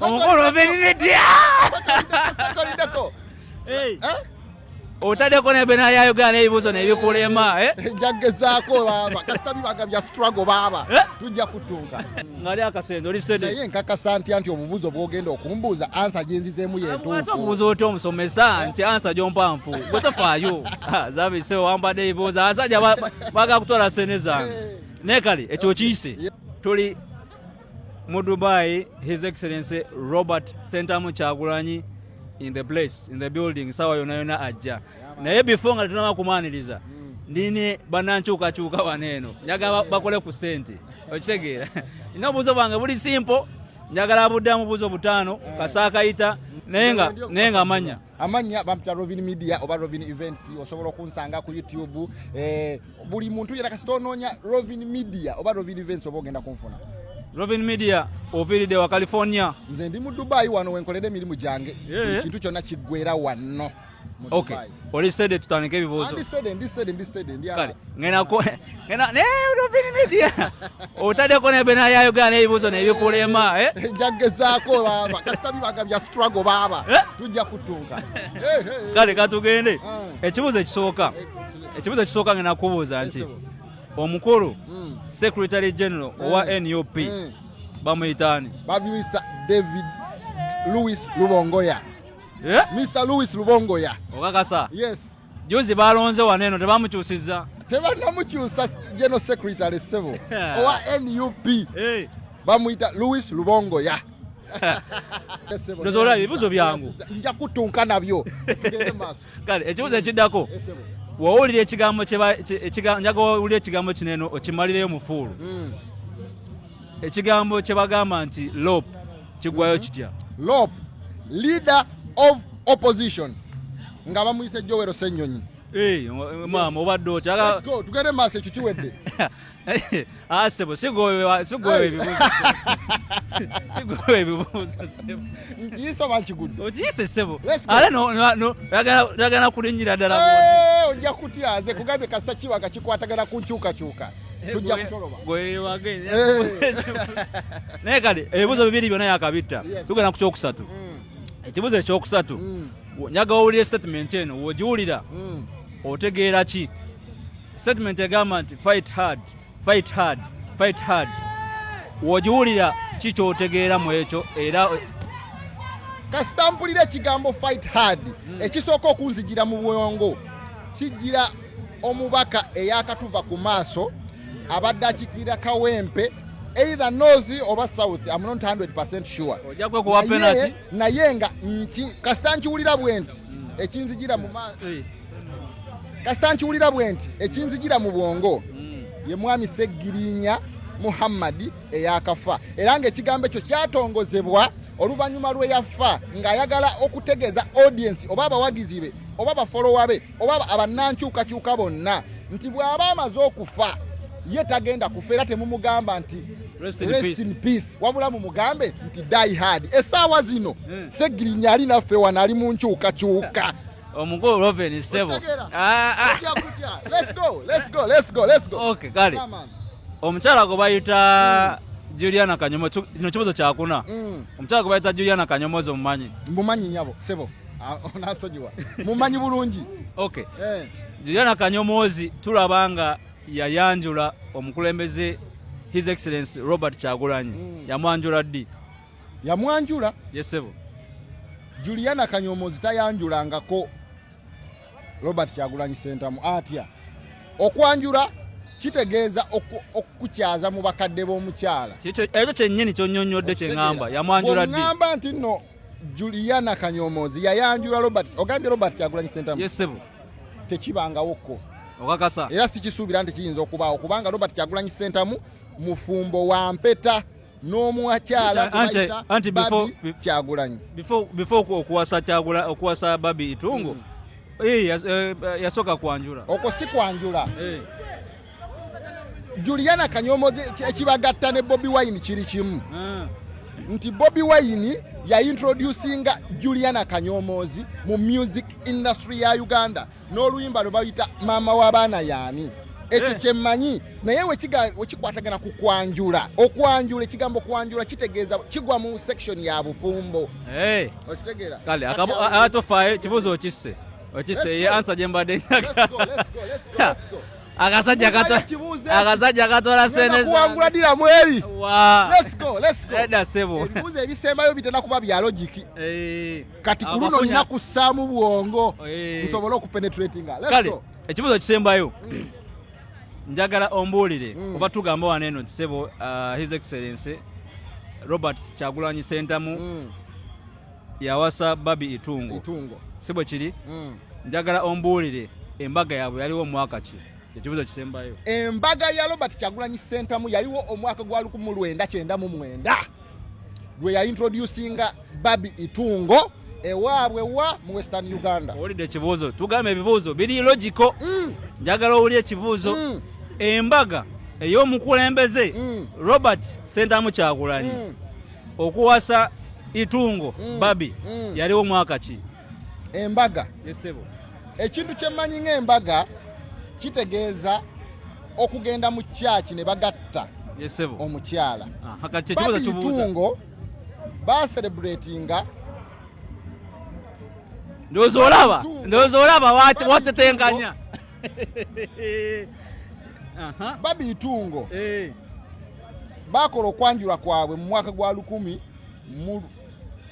omukulu ovenidya otadeko nebena yayogera nebibuzo nebikulema eh? jagezako baba kasitabi baga bya struggle baba eh? tujja kutunka ngali akasendo oli steady naye nkakasa nti anti obubuzo bwogenda okumbuuza ansa gyenzizemu yentuufu obubuza oti omusomesa nti ansa gyompanfu gwe tofaayo ah, zabise wambadde ebibuuzo asajja baga kutwala sene zange eh. nekali ekyo kiyise tuli mu dubai his excellency robert sentamu kyagulanyi in the place in the building sawa yona yona ajja naye before nga tunaba kumaniriza ndine banankyukakyuka wano eno njagala bakole ku sente okitegeera nina obuuzo bwange buli simpo njagala abuddamu buuzo butaano kasaakayita naye nga amanya amannya bampita rovin media oba rovin events osobola okunsanga ku youtube eh, buli muntu yera kasita onoonya rovin media oba rovin events oba ogenda kunfuna rovin media oviiridde wa california nze ndi mu dubai wano wenkolera emirimu gyange eh. ekintu yeah. kyonna kiggwera wano okay. oli stede tutandika ebibuuzo ah, ndi stede ndi stede ndi stede ndi kale ngenako Ngena ne Robin Media. Otade kone bena ya yoga ne ibuzo ne bikulema eh. eh Jagge zako baba. Kasami baga bya struggle baba. Eh? Tujja kutunga. Eh, Kale katugende. Ah. Ekibuzo ekisooka. Ekibuzo ekisooka ngena kubuza nti omukulu hmm. Secretary General owa NUP hmm. bamuyitani. Babimisa David Louis Lubongoya. Yeah? Mr. Louis Lubongoya. Okakasa. Yes. juzi balonze wano eno tebamukyusiza tebanamukyusa geno secretary sebo owa nup eh. bamuyita louis lubongoya nozoola ebibuzo byangu nja kutunka nabyo kale ekibuzo ekiddako wowulira ekigambo njaga wowulira ekigambo kino eno okimalireyo mufuulu hmm. ekigambo kye bagamba nti lop kigwayo mhm. kitya lop leader of opposition nga bamuyise jowero senyonyi eh, maama obadde otya tugende maaso ekyo kiwedde asebo ah, sigowe ebibuuzo nkiyise oba nkigudde okiyise sebo ate oyagala kulinyira ddala eh, ojja kutya nze kugambye kasita kiwanga kikwatagana ku nkyukakyuka tujja kutoloba gwewage eh. naye kale ebibuzo bibiri byona yakabitta tugenda ku kyokusatu mm. ekibuzo ekyokusatu mm. njaga wawulira statement eno wogiwulira mm. otegeera ki statement egamba nti fight hard fight hard fight hard wogiwulira ki kyotegeera mu ekyo era kasita mpulira ekigambo fight hard ekisooka okunzijira mu bwongo kijjira omubaka eyakatuva ku maaso abadde akikirira kawempe either north oba south am not 100 sure naye nga kasita nkiwulira bwe nti hmm. ekinzijira mu eh. kasita nkiwulira bwe nti ekinzijira mu bwongo hmm. ye mwami seggirinya muhammadi eyakafa era ngaekigambo ekyo kyatongozebwa oluvannyuma lweyafa ng'ayagala okutegeeza audiensi oba abawagizi be oba bafolowa be oba abannankyukakyuka bonna nti bw'aba amaze okufa ye tagenda kufa era temumugamba nti rest in peace wabula mumugambe nti die hard esaawa zino hmm. segirinya ali naffe wano ali mu nkyukakyuka omukulu roven sebo ah, ah. kale omukyala gwe bayita hmm. juliana kanyomo kino kibuzo kyakuna hmm. omukyala gwe bayita juliana kanyomozi omumanyi mbumanyi nyabo sebo Ah, onasonyiwa mumanyi bulungi okay eh. juliana kanyomoozi tulaba nga yayanjula omukulembeze his excellence robert kyagulanyi mm. yamwanjula ddi yamwanjula yesebo juliana kanyomozi tayanjulangako robert kyagulanyi sentamu atya okwanjula kitegeeza okukyaza mu bakadde b'omukyala ekyo kyennyini kyonyonyodde kyeŋamba yamwanjula ddi ŋamba nti nno Juliana Kanyomozi yayanjula Robert ogambye Robert Kyagulanyi Ssentamu yes, tekibangawo ko okakasa era sikisuubira nti kiyinza okubaawo kubanga Robert Kyagulanyi Ssentamu mufumbo wa mpeta n'omuakyala anti Kyagulanyi before okuwasa Kyagula okuwasa Babi Itungo mm. hey, eh, yas, uh, eh, yasoka kwanjula okwo si kwanjula hey. Eh. juliana kanyomozi ekibagatta ne bobi wine kiri kimu ah. nti bobi wine yaintroducinga juliana kanyomozi mu music industry ya uganda n'oluyimba lwe bayita maama w'abaana yaani ekyo eh. kyemmanyi naye wekikwatagana ku kwanjula okwanjula ekigambo kwanjula kitegeeza kigwa mu section ya bufumbo eh. okitegeera kale atofaayo kibuuzo okisse okisse ye ansa gye mbadde nyaga Akasajja kato akasajja katwala sente kuwangula dira mwebi. Let's go, let's go. Eda sebo. Ebibuzo ebisembayo bitenda kuba bya logic. Eh. Kati kuluno nina kusamu bwongo. Eh. Nsobola okupenetrating. Let's go. Kale, ekibuzo kisembayo. Mm. Njagala ombuulire mm. oba tugamba wano eno nti sebo uh, His Excellency Robert Kyagulanyi Sentamu mm. yawasa babi itungo itungo si bwe kiri mm. njagala ombuulire embaga yaabwe yaliwo omwaka ki ekibuzo kisembayo embaga ya robert kyagulanyi sentamu yaliwo omwaka gwa lukumu lwenda kyenda mu mwenda lwe yaintroducinga babi itungo ewaabwe wa mu western uganda owulidde ekibuuzo tugamba ebibuuzo biri logiko mm. njagala owuli ekibuuzo mm. embaga ey'omukulembeze mm. robert sentamu kyagulanyi mm. okuwasa itungo mm. babi mm. yaliwo mwaka ki embaga yesebo ekintu kyemmanyi ng'embaga kitegeeza okugenda mu kyaki ne bagatta yesebo omukyala babi itungo baserebratinga ndowooza olaba ndowooza olaba watetenkanya babitungo eh. bakola okwanjula kwabwe mu mwaka gwa lukumi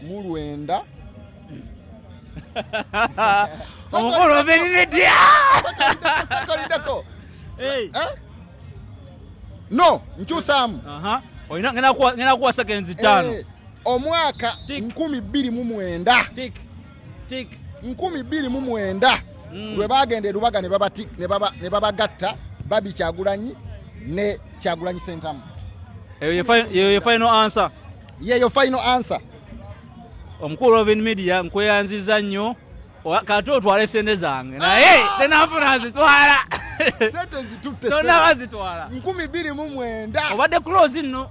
mu lwenda omukulu ovenidya eh? no nkyusaamu ngenda kuwasa genzi ttaano eh, omwaka nkumi bbiri mu mwenda nkumi bbiri mu mwenda mm. lwe bagenda erubaga ne babagatta babi kyagulanyi ne kyagulanyi sentamu yeyo final answer yeyo final answer omukulu robin media nkweyanziza nnyo kati otwale sente zange naye ah! tenafuna zitwala sente zitutte tonaba zitwala nkumi bbiri mu mwenda obadde close nno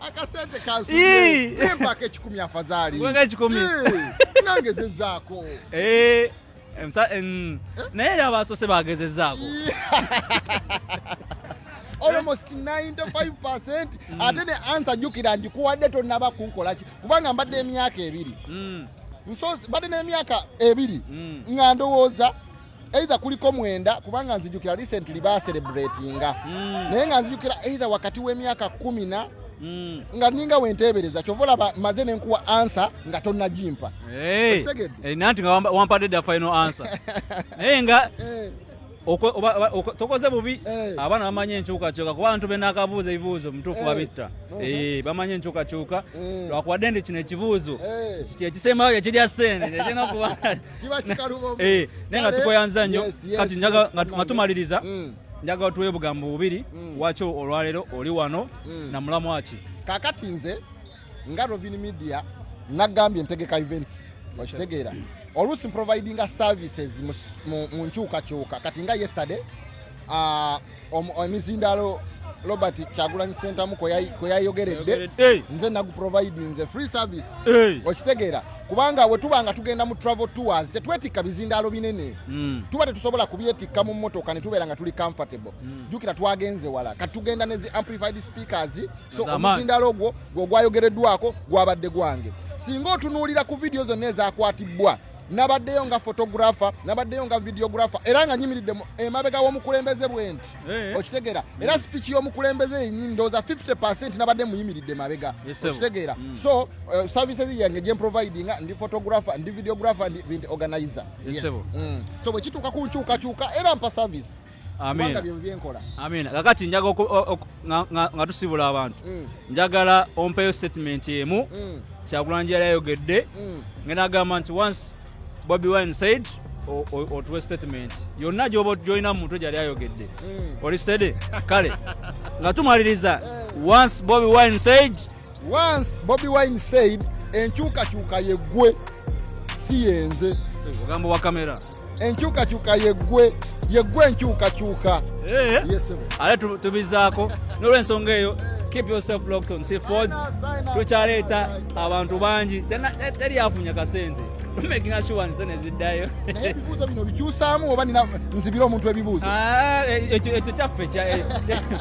akasente kansimpaka ekikumi afadhali ekikumi nangezezaako eh, eh? naye era abasoose bagezezaako almost 95% mm. ate ne ansa jukira njikuwadde tonaba kunkolaki kubanga mbadde emyaka ebiri mm. nsozi mbadde n'emyaka ebiri mm. nga ndowooza either kuliko mwenda kubanga nzijukira recently ba celebratinga mm. naye nga nzijukira either wakati w'emyaka kumi na mm. nga ninga wenteebereza kyova olaba maze nenkuwa ansa nga tonnagimpa hey. hey, nanti nga wampadde da final ansa naye nga hey. Eh. tokoze bubi eh. abaana bamanye enkyukakyuka kuba abantu benakabuuza ebibuuzo mutuufu eh. babitta uh-huh. eh, bamanye enkyukakyuka lwakuwadde ndi kino ekibuuzo kyekisembayo kyekirya sente kyekirina kuba kiba kikalubo eh naye nga tukoyanza nnyo kati njaga nga tumaliriza mm. njaga tuwe bugambo bubiri mm. wacho olwalero oli wano mm. na mulamu aki kakati nze nga Rovin Media nagambye ntegeka events okitegeera oluusi mprovidinga services mu nkyukakyuka kati nga yesterday ah, emizindaalo robert kyagulanyi sentamu kweyayogeredde nze naguprovidinze free service okitegeera kubanga wetuba nga tugenda mu travel tours tetwetikka bizindaalo binene hmm. tuba tetusobola kubyetikka mu motoka netubeera nga tuli comfortable hmm. jukira twagenze wala kati tugenda nezi amplified speakers so omuzindaalo ogwo gwogwayogereddwako gwabadde gwange singa otunuulira ku vidiyo zonna ezakwatibbwa nabaddeyo nga photographer nabaddeyo nga videographer era nga nyimiridde emabega w'omukulembeze bwe nti eh. okitegeera era mm. speech y'omukulembeze yenyi ndowooza 50 percent nabadde muyimiridde emabega okitegeera mm. so uh, services yange gyemprovidinga ndi photographer ndi videographer ndi organizer mm. so bwe kituuka ku nkyukakyuka era mpa service kubanga bye byenkola amina kakati njaga nga tusibula abantu mm. njagala ompeyo statement emu mm. kyakulanja yali ayogedde mm. ngena agamba nti once bobi wine said otuwe statement yonna gyoba gyolina mu mutwe gyali ayogedde oli stede kale nga tumaliriza eh. once bobi wine said once bobi wine said enkyukakyuka yeggwe si yenze ogambo wa kamera enkyukakyuka yeggwe yeggwe enkyukakyuka eh? ale tubizaako n'olwensonga eyo keep yourself locked on safe pods tukyaleeta abantu bangi teri afunya kasente making us sure nze neziddayo naye ebibuuzo bino bikyusaamu oba nzibira omuntu ebibuuzo ah, e, e, ekyo kyaffe